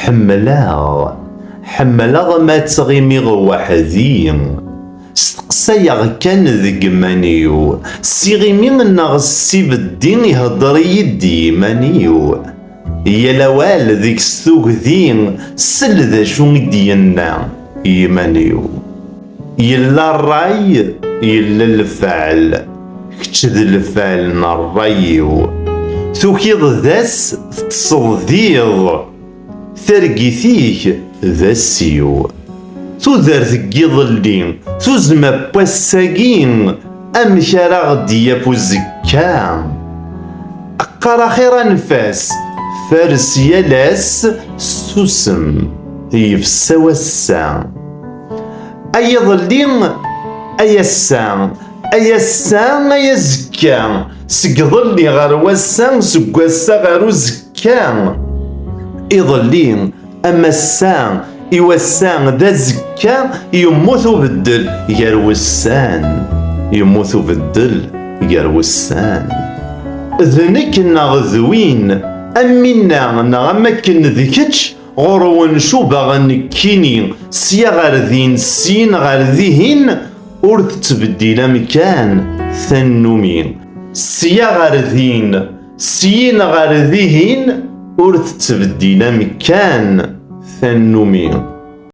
Ḥemmleɣ. Ḥemmleɣ ma ttɣimiɣ weḥd-i. Steqsayeɣ kan deg iman-iw. S iɣimi neɣ s ibeddi ihedder-iyi-d i yiman-iw. Yal awal deg-s tugdi, sel d acu i d-yenna i yiman-iw. Yella rray, yella lefɛel. Kečč d lefɛel n rray-iw. Tukiḍ d ass, teṭṭseḍ d iḍ. Targit-ik d ass-iw. Tudert n yiḍelli, tuzzma n wass-agi, amek ara aɣ-d-yaf uzekka? Qqar axir anef-as, fares yal ass s tsusem, yefsa wass-a. ay iḍelli ay ass-a ay ass-a ay azekka seg iḍelli ɣer wass-a seg wass-a ɣer uzekka iḍelli am ass-a i wass-a d azekka yemmut ubeddel gar wussan yemmut ubeddel gar wussan d nekk neɣ d win am winna neɣ am akken d kečč Ɣur-wen cubaɣen nekkini, sya ɣer din, syin ɣer dihin, ur tettbeddil amkan tannumi. Sya ɣer din, syin ɣer dihin, ur tettbeddil amkan tannumi.